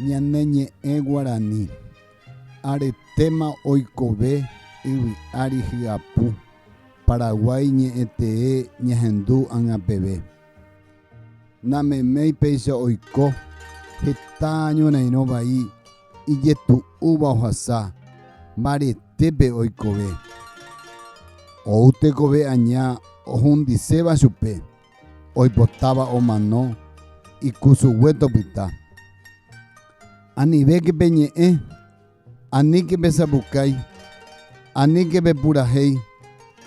Ñane ñe'ẽ guarani, aretéma oikove yvy ári hyapu, Paraguái ñe'ẽtee ñahendu ág̃a peve. Nameméi péicha oiko heta ñorairõ vai ijetu'úva ohasa mbaretépe oikove. Ou tekove aña ohundiséva chupe. oipotáva omano ikusugue topyta. Anivéke pe ñe'ẽ, aníke pe sapukái, aníke pe purahéi,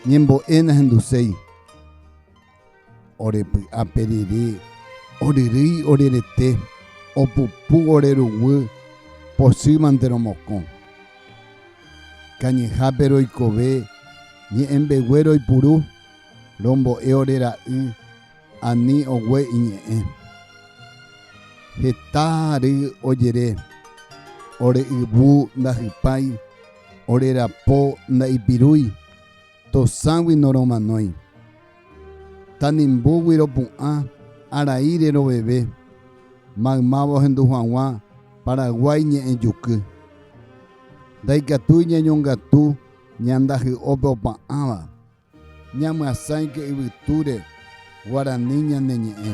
ñembo'e nahenduséi. Ore py'a pe rire, oryrýi ore rete, opupu ore ruguy, pochýmante romokõ. Kañyhápe roikove, ñe'ẽmbegue roipuru. rombo'e ore ra'y ani ogue iñe'ẽ. Heta ry ojere, ore yvu ndahypái, ore rapo ndaipirúi, tosãgui noromanói. Tanimbúgui ropu'ã arai reroveve, maymáva ohendu haguã Paraguái ñe'ẽjuky. Ndaikatúi ñañongatu ñandahy'ópe opa'ãva. Ñamyasãike yvytúre guarani ñane ñe'ẽ.